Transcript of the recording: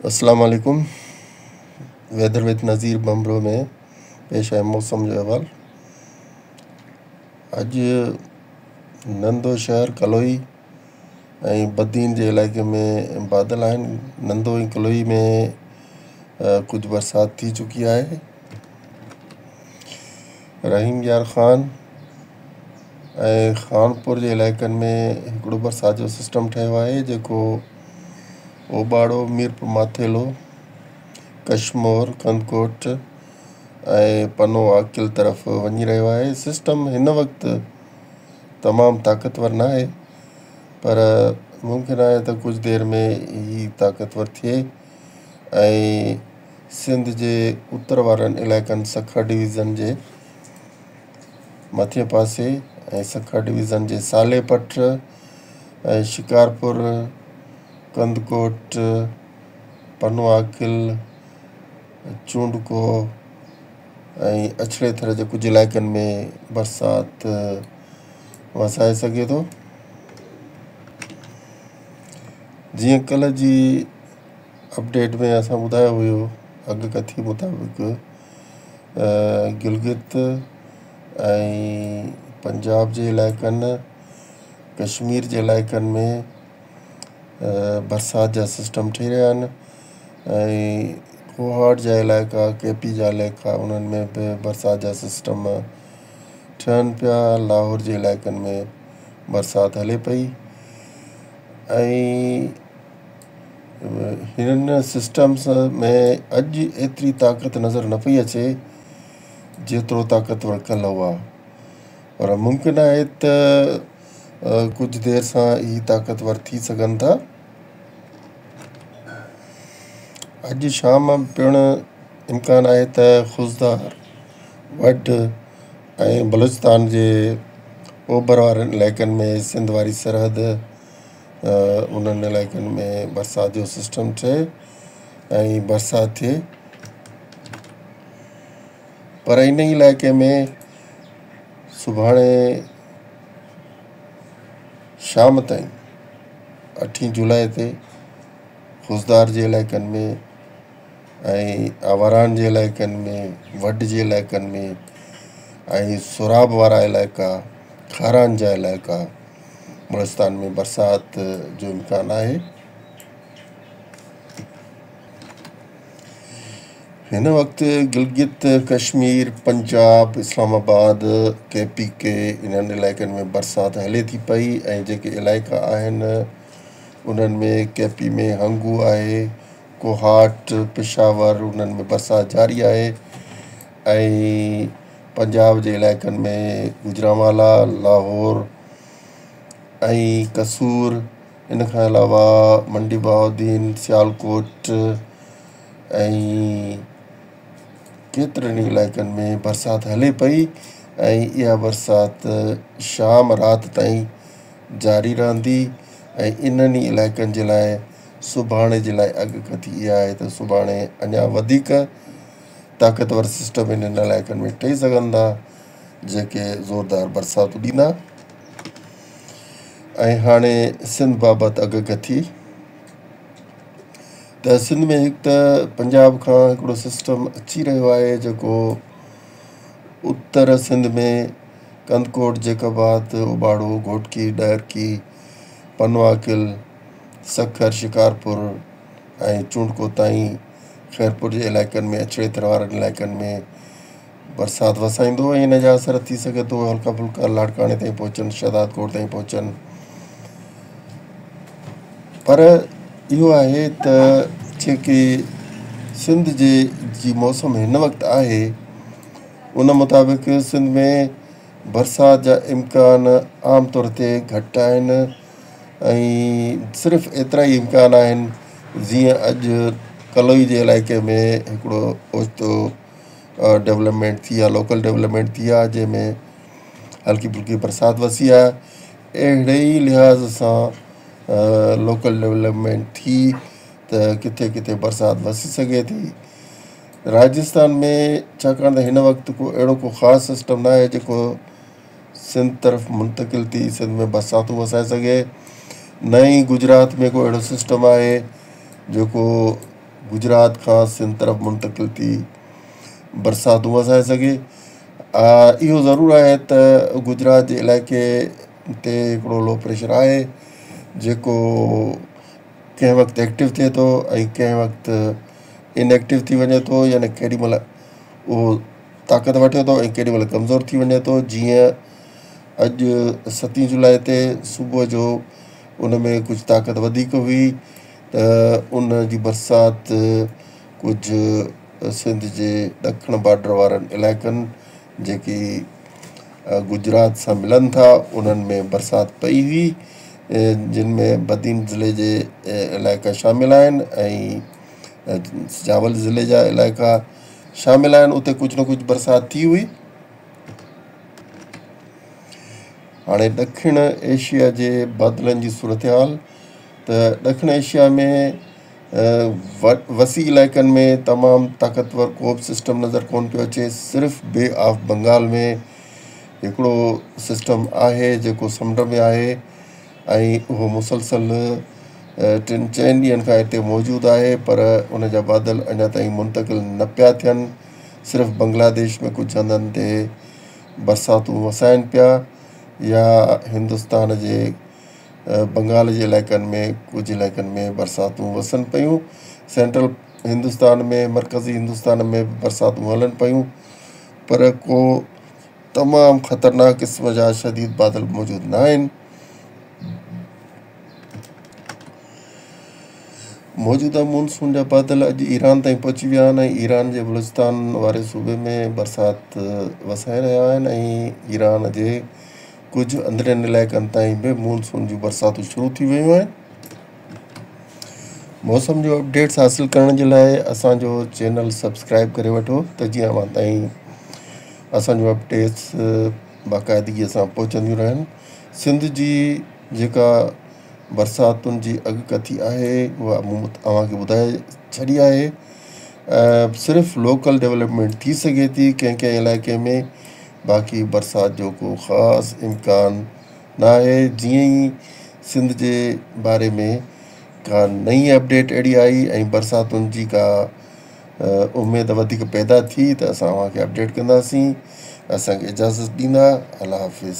السلام عليڪم weather with Nazir Bambhro ۾ پيش آهي موسم جو احوال اڄ نندو شهر ڪلوئي ۽ بدين جي علائقي ۾ بادل آهن نندو ۽ ڪلوئي ۾ ڪجهه برسات ٿي چڪي آهي رحيم يار خان ۽ خانپور جي علائقن ۾ هڪڙو برسات جو سسٽم ٺهيو آهي جيڪو اوٻاڙو، ميرپور ماٿيلو، ڪشمور، ڪنڌڪوٽ ۽ پنو عاقل طرف وڃي رهيو آهي. سسٽم هن وقت تمام طاقتور ناهي پر ممڪن آهي ته ڪجهه دير ۾ هي طاقتور ٿئي ۽ سنڌ جي اتر وارن علائقن سکر ڊويزن جي مٿين پاسي ۽ سکر ڊويزن جي سالي پٽ ۽ شڪارپور، ڪنڌڪوٽ، پنواڪل، چونڊڪو ۽ اڇڙي ٿر جي ڪجهه علائقن ۾ برسات وسائي سگهي ٿو. جيئن ڪلهه جي اپڊيٽ ۾ اسان ٻڌايو هيو اڳڪٿي مطابق گلگت ۽ پنجاب جي علائقن ڪشمير جي علائقن ۾ برسات جا سسٽم ٺهي رهيا آهن ۽ ڪوهاٽ جا علائقا ڪي پي جا علائقا انهن ۾ به برسات جا سسٽم ٺهن پيا لاهور جي علائقن ۾ برسات هلي پئي ۽ هنن سسٽمز ۾ اڄ ايتري طاقت نظر نه پئي اچي جيترو طاقتور ڪلهه هئا پر ممڪن آهي ته ڪجهه دير سان اهي طاقتور ٿي سگهن ٿا. اڄ شام پڻ امڪان آهي ته خضدار، وڍ ۽ بلوچستان جي اوڀر وارن علائقن ۾ سنڌ واري سرحد، ته انهن علائقن ۾ برسات جو سسٽم ٺهي ۽ برسات ٿئي پر ان ئي علائقي ۾ سڀاڻي شام تائين اٺين جولاء تي خضدار جي علائقن ۾ ۽ آواران جي علائقن ۾ وڍ جي علائقن ۾ ۽ سوراب وارا علائقا کاران جا علائقا بلوچستان ۾ برسات جو امڪان آهي. هن وقت گلگت، ڪشمير، پنجاب، اسلام آباد، ڪي پي ڪي انهن علائقن ۾ برسات هلي ٿي پئي ۽ جيڪي علائقا آهن انهن ۾ ڪي پي ۾ هنگو آهي، ڪوهاٽ، پشاور انهن ۾ برسات جاري آهي. ۽ پنجاب جي علائقن ۾ گوجرانوالا، لاهور ۽ قصور، ان کان علاوه منڊي بهاؤالدين، سيالڪوٽ ۽ ڪيترن ئي علائقن ۾ برسات هلي پئي ۽ اها برسات شام رات تائين جاري رهندي ۽ انهن ئي علائقن جي لاء سڀاڻي جي لاء اڳڪٿي اها آهي ته سڀاڻي اڃا وڌيڪ طاقتور سسٽم انهن علائقن ۾ ٺهي سگهن ٿا جيڪي زوردار برساتون ڏيندا ۽ هاڻي سنڌ بابت اڳڪٿي ته سنڌ ۾ هڪ ته پنجاب کان هڪڙو سسٽم اچي رهيو آهي جيڪو اتر سنڌ ۾ ڪنڌڪوٽ جيڪب آباد اوٻاڙو گهوٽڪي ڏهرڪي پنواڪل سکر شڪارپور ۽ چونڊڪو تائين خيرپور جي علائقن ۾ اڇڙي ٿر وارن علائقن ۾ برسات وسائيندو ۽ ان جا اثر ٿي سگهي ٿو هلڪا ڦلڪا لاڙڪاڻي تائين پهچن، شهداد ڪوٽ تائين پهچن پر اهو آهي ته جيڪي سنڌ جي جي موسم هن وقت آهي ان مطابق سنڌ ۾ برسات جا امڪان عام طور تي گهٽ آهن ۽ صرف ايترا ئي امڪان آهن جيئن اڄ ڪلوئي جي علائقي ۾ هڪڙو اوچتو ڊولپمينٽ ٿي آ لوڪل ڊولپمينٽ ٿي آ جنهن ۾ هلڪي ڦلڪي برسات وسي آ اهڙي ئي لحاظ سان لوڪل ڊولپمينٽ ٿي ته ڪٿي ڪٿي برسات وسي سگهي ٿي راجسٿان ۾ ڇاڪاڻ ته هن وقت ڪو اهڙو ڪو خاص سسٽم ناهي جيڪو سنڌ طرف منتقل ٿي سنڌ ۾ برساتون وسائي سگهي. نه ئي گجرات ۾ ڪو اهڙو سسٽم آهي جيڪو گجرات کان سنڌ طرف منتقل ٿي برساتون وسائي سگهي. اهو ضرور آهي ته گجرات جي علائقي تي هڪڙو لو پريشر آهي جيڪو ڪنهن وقت ايڪٽو ٿئي ٿو ۽ ڪنهن وقت ان ايڪٽو ٿي وڃي ٿو يعني ڪيڏي مهل اهو طاقت وٺي ٿو ۽ ڪيڏي مهل ڪمزور ٿي وڃي ٿو، جيئن اڄ ستين جولاء تي صبح جو ان ۾ ڪجهه طاقت وڌيڪ هئي ته ان جي برسات ڪجهه سنڌ جي ڏکڻ بارڊر وارن علائقن جيڪي گجرات سان ملن ٿا انهن ۾ برسات پئي هئي جن ۾ بدين ضلعي جي علائقا شامل آهن ۽ سجاول ضلعي جا علائقا شامل آهن اتي ڪجهه نه ڪجهه برسات ٿي هئي. هاڻي ڏکڻ ايشيا جي بادلن جي صورتحال ته ڏکڻ ايشيا ۾ وسيع علائقن ۾ تمام طاقتور ڪو به سسٽم نظر ڪون پيو اچي صرف بي آف بنگال ۾ هڪڙو سسٽم آهي جيڪو سمنڊ ۾ آهي ۽ اهو مسلسل ٽن چئن ڏينهن کان هتي موجود آهي پر ان جا بادل اڃا تائين منتقل نه پيا ٿين، صرف بنگلاديش ۾ ڪجهه هنڌن تي برساتون وسائن پيا يا هندستان جي بنگال جي علائقن ۾ ڪجهه علائقن ۾ برساتون وسن پيون، سينٽرل هندستان ۾ مرڪزي هندستان ۾ به برساتون هلن پيون پر ڪو تمام خطرناڪ قسم جا شديد بادل موجود نه آهن. موجوده مونسون جا بادل اڄ ايران تائين پهچي ويا آهن ۽ ايران جي بلوچستان واري صوبي ۾ برسات وسائي رهيا آهن ۽ ايران جي ڪجهه اندرين علائقن تائين به مونسون جون برساتون شروع ٿي ويون آهن. موسم جو اپڊيٽس حاصل ڪرڻ جي لاء اسان جو چينل سبسڪرائب ڪري وٺو ته جيئن اوهان تائين اسان جون اپ ڊيٽس باقاعدگيء سان پهچنديون رهن. سنڌ جي جيڪا برساتن جي اڳڪٿي آهي اها مون اوهان کي ٻڌائي ڇڏي آهي. صرف لوڪل ڊولپمينٽ ٿي سگهي ٿي ڪنهن ڪنهن علائقي ۾ باقي برسات جو ڪو خاص امڪان نه آهي. جيئن ئي سنڌ جي باري ۾ ڪا نئين اپ ڊيٽ اهڙي آئي ۽ برساتن جي ڪا اميد وڌيڪ پيدا ٿي ته اسان اوهان کي اپڊيٽ ڪنداسين اسان کي اجازت ڏيندا الله حافظ.